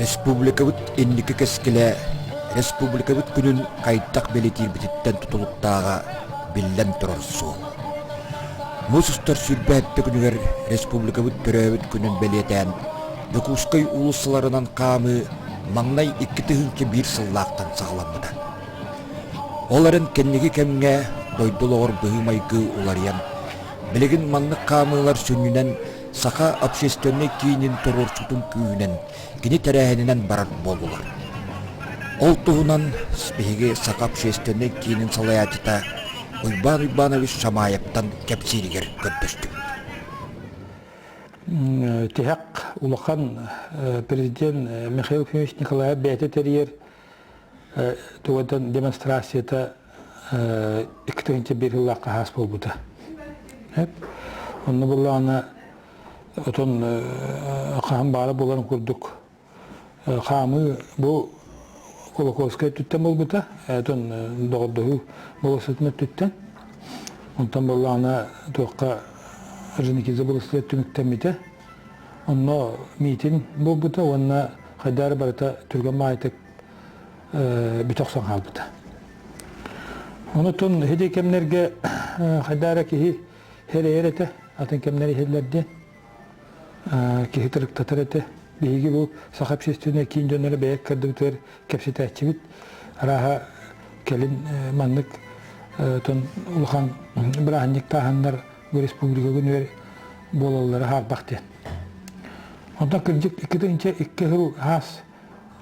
Республикабыт инники кэскилэ республикабыт күнүн хайдах бэлитиирбититтэн тутулуктааҕа биллэн турар суол. Муус устар сүүрбэһэттэ күнүгэр республикабыт төрөөбүт күнүн бэлиэтээн Дьокуускай уулуссаларынан хаамыы маҥнай икки тыһыынча биир сыллаахтан саҕаламмыта. Ол эрэн кэнники кэмҥэ дойду олоҕор быһыы-майгы уларыйан, билигин маннык хаамыылар сүнньүнэн саха общественнай киинин туруорсуутун күүһүнэн кини тэрээһининэн барар буоллулар. Ол туһунан биһиги саха общественнай киинин салайааччыта Уйбаан Уйбаанабыс Шамаевтан кэпсииригэр көрдөстүм. Тиһэх улахан президент Михаил Ефимович Николаев бэйэтэ тэрийэр Тугаттан демонстрацията икки тыһынча биир сыллаах хаһаас буолбута. Онно буллаҕына отон хаһан баара болан курдук хаамыы бу Кулаковскай өттүттэн буолбута, отон доҕордоһуу болосытын өттүттэн. Онтон боллаҕына туохха Женикиза болосытыгар түмүктэммитэ. Онно миитин буолбута уонна хайдары барыта түргэн маайтык бүтэ охсон хаалбыта. Онутун хиди кэмнерге хайдара киһи херейер этэ, атын кэмнер иһиллер диэн. Киһи тырыктатар этэ. Биһиги бу саха общественный киин дьоннору бэйэк көрдүбүтүгэр кэпсэтээччибит. Арааха келин маннык тон улахан бырааһынньык тааһаннар республика күнүгэр буолаллара хаарбах диэн. Онтон кырдьык икки тыһынча икки сыл хаас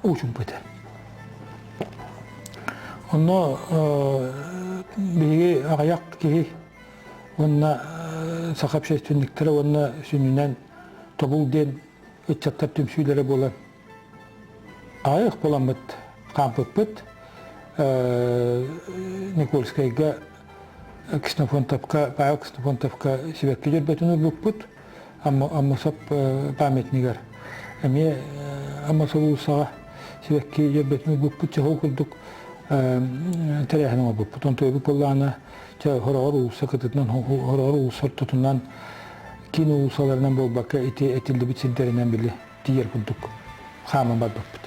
уучумпыта. Онно биһиги аҕыйах киһи уонна саха общественниктара уонна сүнньүнэн тобул диэн ыччаттар түмсүүлэрэ буолан Аҕай ыкпаламмыт хаампыппыт Никольскайга Ксенофонтовка, Павел Ксенофонтовка сибэкки дьөрбөтүн ылбыппыт Аммосоп памятнигар. Эмиэ Аммосов уулуссаҕа сибэкки дьөрбөтүн ылбыппыт чоһол курдук тэрээһин оҥорбуппут. Онтуйбут былаана хороҕор уулусса кытытынан, хороҕор уулусса ортотунан, киин уулуссаларынан буолбакка, ити этиллибит сирдэринэн били тиийэр курдук хааман барбыппыт.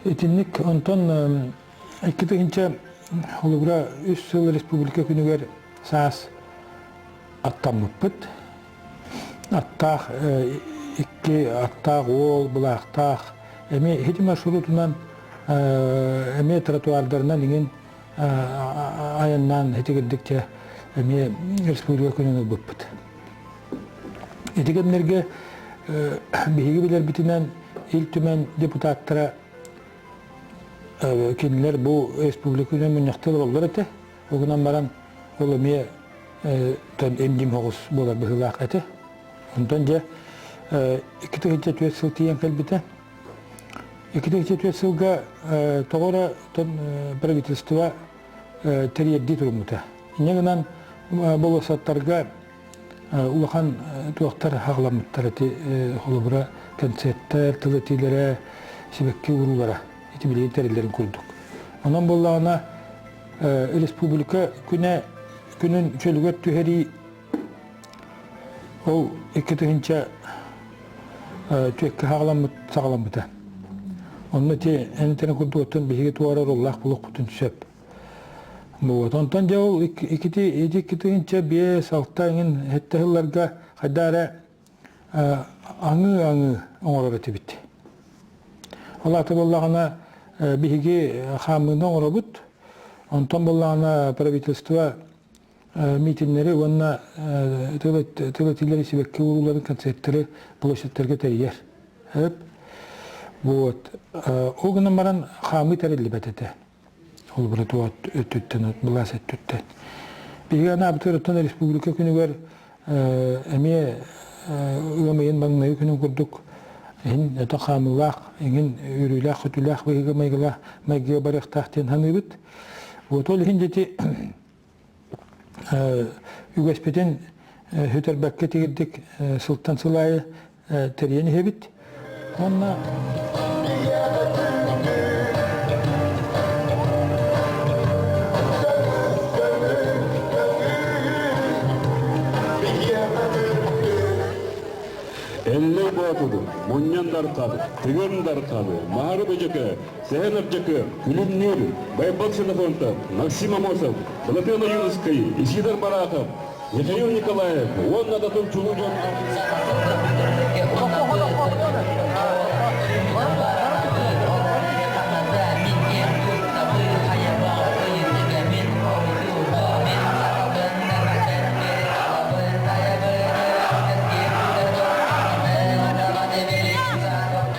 Итинник онтон икки тыһынча холобура үс сыл республика күнүгэр саас аттаммыппыт. Аттаах икки аттаах уол былаахтаах эми хити маршрутунан эми тротуардарынан иҥин айаннаан хитигирдикчэ эми республика күнүн ылбыппыт. Ити кэмнэргэ биһиги билэрбитинэн Ил Түмэн депутаттара кинилэр бу республиканан мунньахтар ололлор этэ. Ол гынан баран ол эмиэ эмним хоҕус буолар быһыылаах этэ. Онтон дьэ икки тыһыынча түөрт сыл тиийэн кэлбитэ. Икки тыһыынча түөрт сылга тоҕо эрэ правительство тэрийэрдии туруммута. Инньэ гынан болуоссаттарга улахан туохтар хаҕламмыттар ити холобура концерттэр тыл этиилэрэ сибэкки уруулара ити билигин тэриллэрин курдук онон буоллаҕына республика күнэ күнүн чөлүгэр түһэрии ол икки тыһынча түөккэ хаҕаламмыт саҕаламмыта онно ити эн курдук оттон биһиги туора оруллаах булукпутун сөп Буот. Онтон дьэ ол икити икки тыһыынча биэс алта эҥин этте сылларга хайда эрэ аңыы-аңыы оҥорор этибит. Ол аты буоллаҕына биһиги хаамыыны оҥоробут. Онтон буоллаҕына правительство митингнэри уонна тылы сибэкки урууларын концерттеры площадьтарга тэрийэр. Өп. Вот. Ол гынан баран хаамыы тэриллибэт этэ. Холобуру от өттүттэн, былаас өттүттэн. Биһиги анаабытыттан республика күнүгэр эмиэ ыам ыйын маҥнайгы күнүн курдук иһин өтө хаамыылаах, иҥин үөрүүлээх-көтүүлээх быһыыга майгыла майгыга барыахтаах диэн саныыбыт. Вот ол иһин дьити үгэспитин сүтэрбэккэ тигирдик сылтан сыл аайы тэрийэн иһэбит уонна Эллей Боотуду, мунньан дархады, тыгын дархады, мары бөжөкө, Сэһэн Ардьакыа, Күлүмнүүр, Байбал Ксенофонтов, Максим Амосов, Былатыан Ойуунускайы, Исидор Барахов, Михаил Николаев уонна Датыл чулуу дьон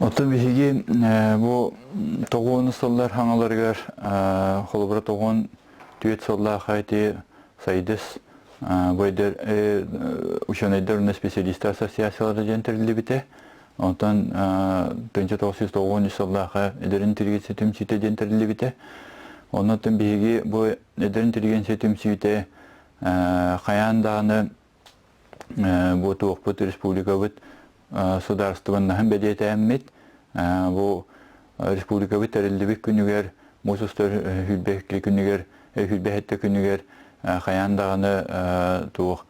Оттон биһиги бу тоҕуону сыллар хаҥаларыгар холобура тоҕуон түөрт сыллаах эти сайдыс бойдер ученайдар уонна специалистар ассоциациялара диэн тэриллибитэ Онтон тынча тоҕус жүз тоҕуон үс сыллаахы эдэр интеллигенция түмсүүтэ диэн тэриллибитэ. Оннуттан биһиги бу эдэр интеллигенция түмсүүтэ хайаан даҕаны бу туохпут республикабыт судаарыстыбаннаһын бэлиэтээммит бу республикабыт тэриллибит күнүгэр муус устар хүлбэхтли күнүгэр хүлбэхэтте күнүгэр хайаан даҕаны туох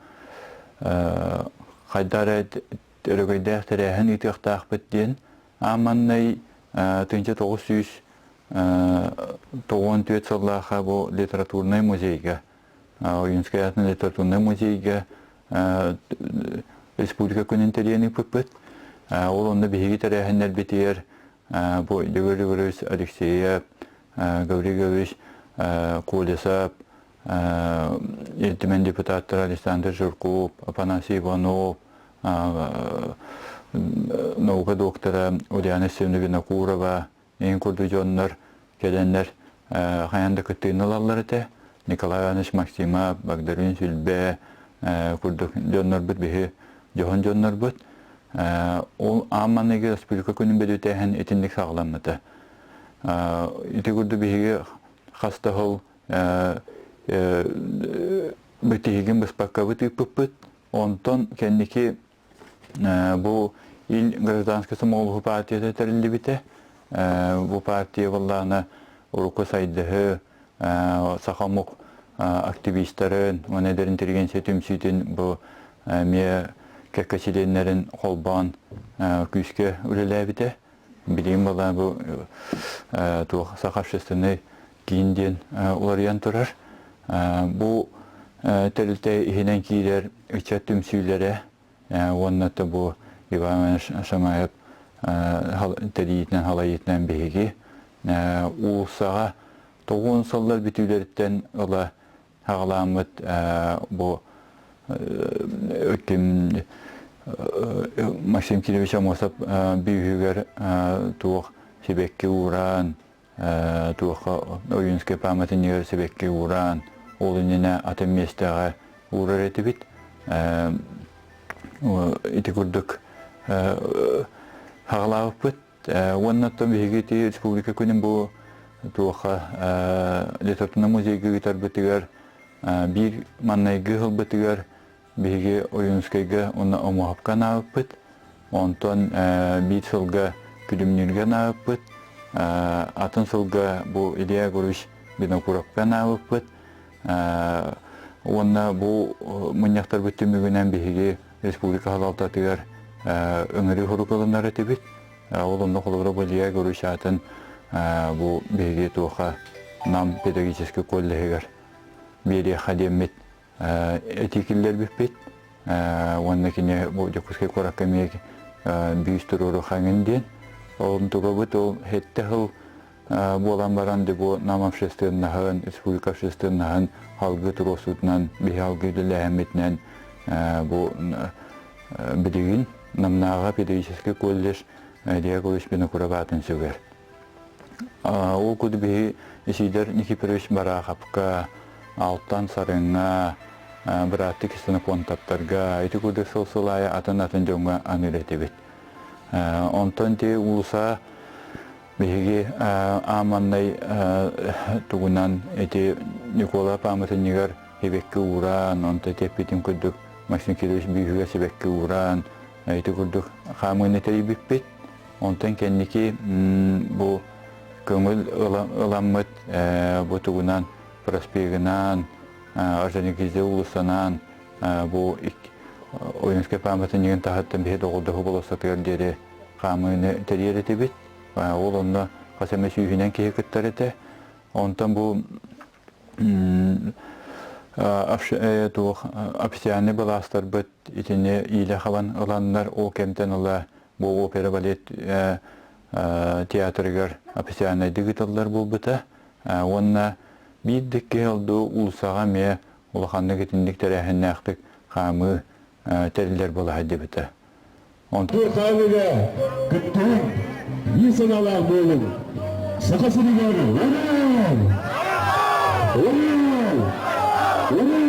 хайдары өрөгөйдөөх тэрээһин ыытыахтаахпыт диэн ааманнай тынча тоғыз сүүс тоҕуон түөт сыллааха бу литературнай музейга Уюнскай литературнай музейга республика күнүн тэрийэн ыыппыппыт. Ол онно биһиги тэрээһиннэрбитигэр бу Дегорь Григорьевич Алексеев, Гаврил Гаврилович Колесов, ертимэн депутаттар Александр Жирков, Апанасий Иванов, наука доктора Ульяна Семеновна Винокурова, инкуду дьоннор кэлэннэр хайан да кыттыыны ылаллар этэ Николай Иванович Максимов, Багдарыын Сүлбэ курдук дьоннорбут биһи дьоһун дьоннорбут ол аан маныгы республика күнүн бэдүтээһин итинник саҕаламмыта ити курдук биһиги хас да хол бу тиһигин быспаккабыт ыыппыппыт онтон кэнники Бу Ил гражданскай сомоҕолоһуу партията тэриллибитэ. Бу партия буоллаана урукку сайдыһы, саха омук активистарын уонна эдэр интеллигенция түмсүүтүн бу эмиэ кэккэ чилиэннэрин холбоон күүскэ үлэлээбитэ. Билигин была бу туох саха общественный киин диэн уларыйан турар. Бу тэрилтэ иһинэн киирэр ыччат түмсүүлэрэ уонна да бу Иванович Шамаев тэриитинэн халайыытынан биһиги уулуссаҕа тоҕуун сыллар бүтүүлэриттэн ыла саҕаламмыт бу үтүм Максим Кириллович Амосов бүүһүгэр туох сибэкки ууран туохха Ойунскай пааматынньыгар сибэкки ууран ол иннинэ атын миэстэҕэ уурар этибит ити курдук саҕалаабыппыт Уонна оттон биһиги ити республика күнүн бу туоха литературнай музейга ыытарбытыгар биир маннайгы ылбытыгар биһиги Ойуунускайга уонна Омоһопко анаабыппыт. Онтон биир сылга Күлүмнүүргэ анаабыппыт. Атын сылга бу Илья Егорович Винокуровка анаабыппыт. Уонна бу мунньахтарбыт түмүгүнэн биһиги республика салалтатыгар өҥөрүү хорук ылынар этибит. Ол онно холобура Болия Гурусаатын бу биһиги туоха Нам педагогический коллеһыгар биэриэххэ диэммит этии киллэрбиппит. Уонна кини бу Дьокуускай куоракка эмиэ биис туруору хаҥын диэн. Ол тугабыт ол хетте хыл буолан баран бу Нам общественноһын, республика общественноһын халгы туруосутунан, биһалгы үлэлээһиммитинэн бу билигин Намнааҕа педагогический колледж Илья Ильякович Пинокуроватын сүгэр. Ол куду биһи Исидор Никифорович Бараховка, Алтан Сарыҥа, бырааттык Кистонофонтовтарга ити куду сылсылая атын-атын дьоҥҥо аны үлэтибит. Онтон те улуса Биһиги ааманнай тугунан ити Николай пааматынньыгар сибэкки ууран, онто теппитин курдук Максим Кириллович бүүһүгэр сибэкки ууран, ити курдук хаамыыны тэрийбиппит. Онтон кэнники бу көҥүл ыламмыт бу тугунан проспегынан, Орджоникидзе уулуссанан бу Ойунскай пааматынньыгын таһыттан биһи доҕордоһуу болуоссатыгар диэри хаамыыны тэрийэр этибит. Ол онно хас эмэ сүүһүнэн киһи кыттар этэ. Онтон бу туох официальный былаастарбыт итини иилэ хабан ыланнар ол кэмтэн ыла бу опера балет театрыгар официальнайдык ыытыллар буолбута уонна биир да киһи алды улсаҕа эмиэ улаханнык итинник тэрээһиннээхтик хаамыы тэриллэр буолаһа дебетэ. Тотаан үлэ кыттыһын и саналаах буолуҥ. Саха сиригэр уруу! Уруу! Уруу!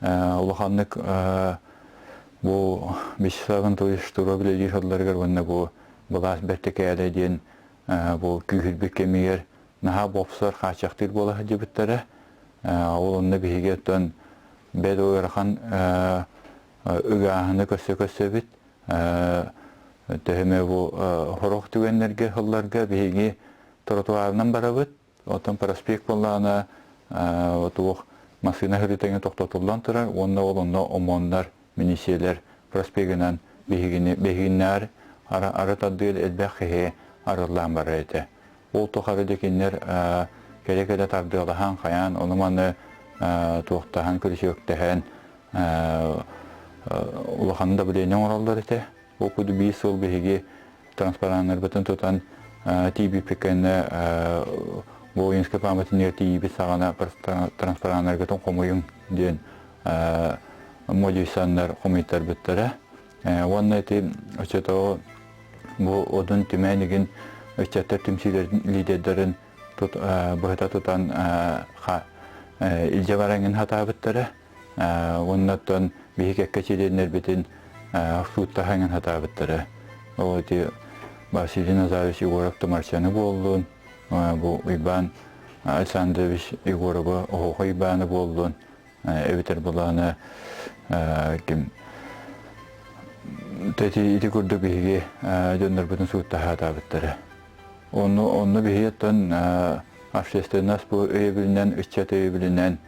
улаханнык бу Вячеславын туйустура биледииһалларыгар уонна бу былаас бэртикээлэ диэн бу күүһүрбүт кэмигэр наһаа бопсор хааччахтыыр буола сылдьыбыттара ол онно биһиги оттон бэд ыарахан ыгааһыны көрсө-көрсөбүт төһөмө бу сорох түгэннэргэ сылларга биһиги тротуарынан барабыт Оттон проспект буоллаҕына туох массыына хөрүтэҥэ тохтотуллан турар уонна ол онно ОМОНнар, миниисиэлэр проспегынан биһигини биһигиннэр ары тардыыр элбэх киһи арыллаан барар этэ. Ол тухары да кинилэр кэрэ-кэрэ тардыалаһан, хайаан ону-маны туохтаһан, күрүчүөктэһэн улахан удобрение оҥороллор этэ. Ол курдук биир сыл биһиги транспараннарбытын тутан тиийбиппит кэннэ Волынскай пааматын ер тиийбит саҕана транспараннаргытын хомуйуҥ диэн модюсаннар хомуйтарбыттара уонна ити оччотооҕу бу одун түмээн игин ыччаттар түмсүүлэрин лидердарын быһыта тутан илдьэ бараҥын хатаабыттара уонна оттон биһиги кэккэтилиэннэрбитин фруттаһаҥын хатаабыттара. Ол ити Василий Назарович Егоров Тумарчаны буоллун, бу Уйбаан Александрович Егорова Оһоҕо Уйбааны буоллун, эбэтэр былаана ким ити курдук биһиги дьоннорбутун сууттаһаатаабыттара. Онну, онну биһиги оттон общественность бу өйөбүлүнэн, ыччат өйөбүлүнэн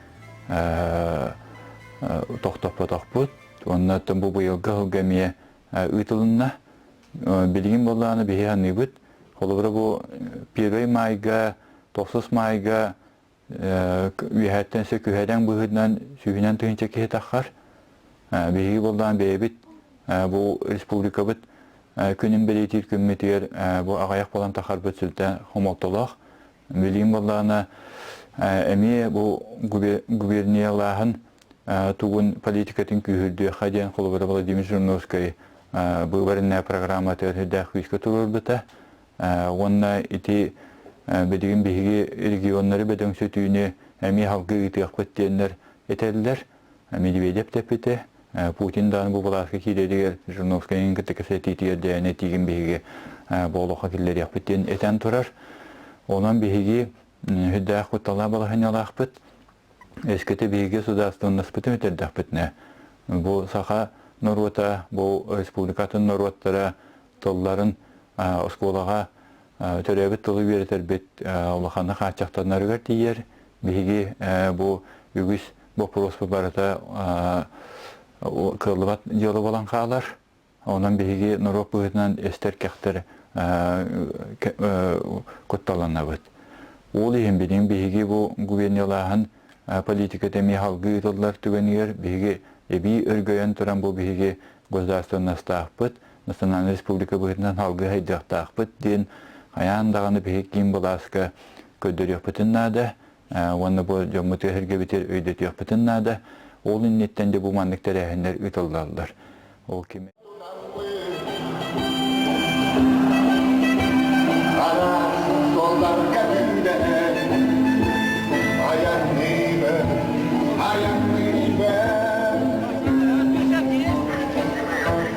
тохтоппотохпут. Онно бу быйылгы сылга эмиэ ыытылынна. Билигин боллааны биһи аныыбыт. Холобура бу первый майга, тохсус майга үөһэттэн сө күһэдэн быһыытынан сүүһүнэн тыһынча киһи таххар. Биһиги боллаан бэйэбит бу республикабыт күнүн бэлиэтиир күммүтүгэр бу аҕайах болан тахарбыт сүлтэн хомолтолоох Велим Баллана эмиэ бу губерниялааһын тугун политикатын күүһүрдүөхэ диэн холобура Владимир Жирновскай быыбарынная программа теоридаах күүскэ туруорбута уонна ити билигин биһиги регионнары бөдөҥсөтүүнү эмиэ халгы ыытыахпыт диэннэр этэллэр Медведев тэппитэ, Путин даҕаны бу былааска киириэтигэр Жириновскайын кытта кэпсэтиитигэр дээнэ тиигин биһиги буолуохха киллэриэхпит диэн этэн турар. Онон биһиги сүрдээх кутталаах балаһыанньалаахпыт, эскете биһиги судаарыстыбаннаспытын үтэрдэхпитинэ, бу саха норуота, бу республикатын норуоттара тылларын оскуолаҕа төрөөбүт тылы үөрэтэрбит улаханна хааччахтанарыгар тиийэр. Биһиги бу үгүс боппуруоспу барыта кыаллыбат дьыала буолан хаалар. Онон биһиги норуот быһыытынан эстэр-кэхтэр кутталанабыт. Ол иһин билин биһиги бу губерниялааһын политиката эмиэ халгы ыытыллар түгэнигэр биһиги эбии өргөйөн туран бу биһиги государственностаахпыт, Национальнай республика быһыытынан алгыс өйдüөхтаахпыт диэн хайаан даҕаны биһи киин былааска көрдөрүөхпүтүн наада уонна бу дьоммут өһүргэбитин өйдөтүөхпүтүн наада. Ол инниттэн де бу маннык тэрээһиннэр ыытыллаллар. Ол ким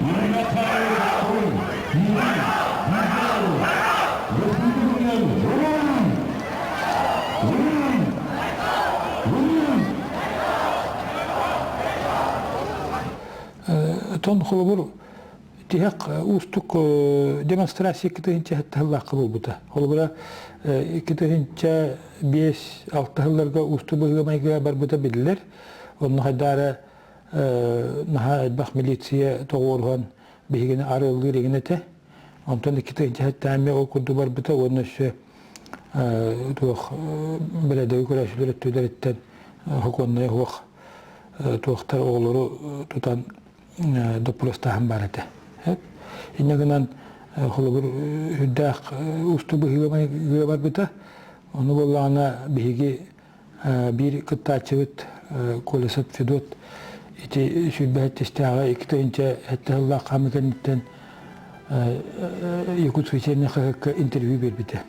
Михаил Батун, Юрий Гизаров, Республикан Рум! Рум! Рум! Отон холобур тиһэх уустук демонстрация китиһин чэһэттаһыллаахка буолбута. Холобура китиһинчэ биэс алтаһылларга уусту быһыымайга барбыта биллер. Онно хайдаара наһаа элбэх милиция тоҕуоруһан биһигини арыаллыыр игин этэ. Онтон иккитэ дьэһэттээми ол курдук барбыта уонна өссө туох бэлэдэги көрөөсүлөр өттүлэриттэн хоконнай хуох туохтар оҕолору тутан доппуластааһын баар этэ. Иннэ гынан холобур үрдээх усту быһыыга барбыта. Ону буоллаҕына биһиги биир кыттааччыбыт Колесов Федот ити сүүрбэһит тистээҕи икки тыһыынча сэттэ сыллаах хаамыы кэнниттэн Якутская северная хаһыакка интервью биэрбитэ.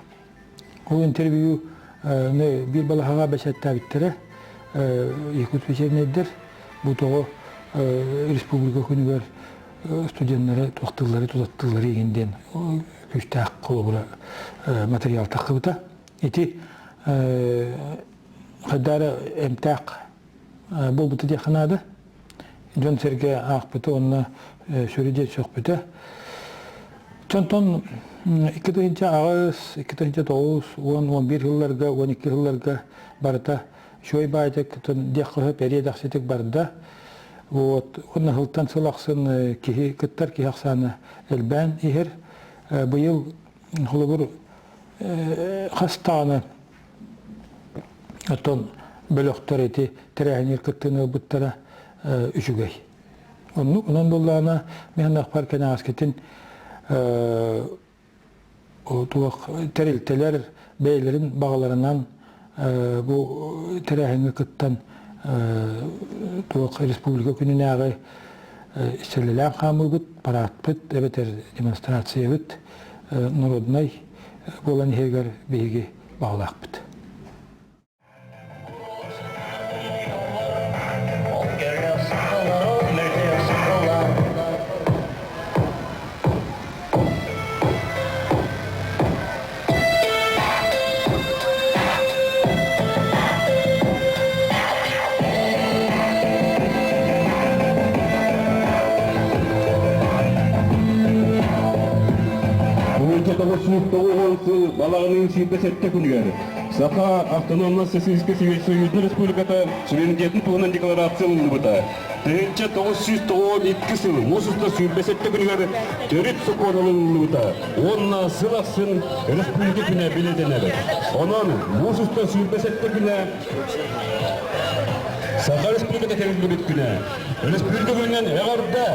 Ол интервью биир балаһаҕа бэсэттээбиттэрэ Якутская севернайдар бу тоҕо республика күнүгэр студеннары туохтыллары тутаттыллары игин диэн күүстээх холобура материал тахсыбыта. Ити хайдары эмтээх буолбута диэххэ наада. Дьон-сэргэ аахпыта уонна сүрү диэ сөхпүтэ. Чонтон 2009, 2009, 10, 11 жылларга, 12 жылларга барыта Шой Байтектын диэххэһэ периодахситик барда. Вот, онна хылтан сыл ахсын киһи кыттар киһи ахсаана элбээн иһэр. Быйыл холобур хастаанан оттон бөлөхтөр ити тэрээһинигэр кыттыыны ылбыттара үчүгэй. Оннук онон буллаана мен ахпар кенааскетин туох тэрилтэлэр бэйлерин бағаларынан бу тэрээһиҥҥэ кыттан туох республика күнүнээҕи истэлэлээн хаамыыбыт, параадпыт эбэтэр демонстрациябыт норуодунай буолан иһигэр биһиги баҕалаахпыт. балаҕанын сиирдэ сэттэ күнүгэр саха автономно социалистическай союза республиката суверенитетін туһунан декларация ылыныбыта тыһыынча тоҕус сүүс тоҕуон икки сыл муус уста сүүрбэ сэттэ күнүгэр төрүт сокуон ылыллыбыта уонна сыл ахсын өрөспүүбүлүкэ күнэ бэлиэтэнэр. Онон муус уста сүүрбэ сэттэ күнэ Саха Республиката тэриллибит күнэ. Өрөспүүбүлүкэ күнүнэн эҕэрдэ!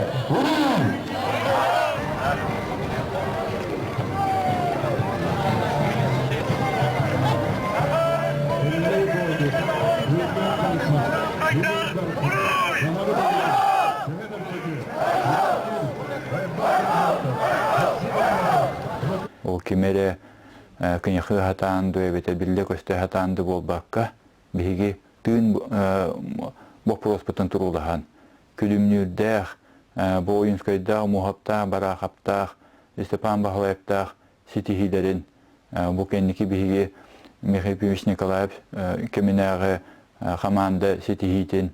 Ол ким эрэ кыньахы хатаан ду эбэтэ биллэ көстө хатаан ду буолбакка, биһиги тыын боппуруоспутун туруулаһан, күлүмнүүрдээх, Боуюнскайдаах, Муһаптаах, Бараахаптаах, Степан Баһылайаптаах ситиһиилэрин бу кэнники биһиги Михаил Ильич Николаев кэминээҕи хамаанда ситиһиитин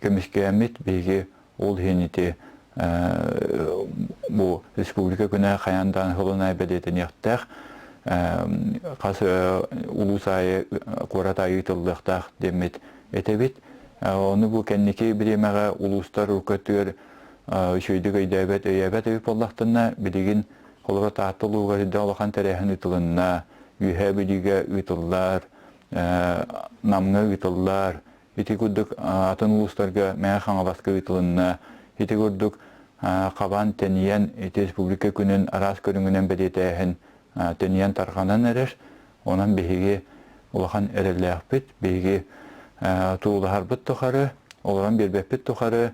көмүскээммит биһиги ол иһин ити бу республика күнэ хайаан даан хылына бэлиэтэниэхтээх хас улуус аайы куорат аайы ыытыллыахтаах деммит этэбит ону бу кэнники бириэмэҕэ улуустар көтүөр үчүгэйдик өйдөөбөт, өйөөбөт өй буоллахтына, билигин холобур Таатта улууга сирдэн улахан тэрээһин ыытылынна, Үөһээ Бүлүүгэ ыытыллар, Намҥа ыытыллар, ити курдук атын улуустарга Мэҥэ Хаҥаласка ыытылынна. Ити курдук хабан тэнийэн ити республика күнүн араас көрүҥүнэн бэлиэтээһин тэнийэн тарҕанан эрэр. Онон биһиги улахан эрэллээхпит, биһиги туулаһарбыт тухары, олорон биэрбэппит тухары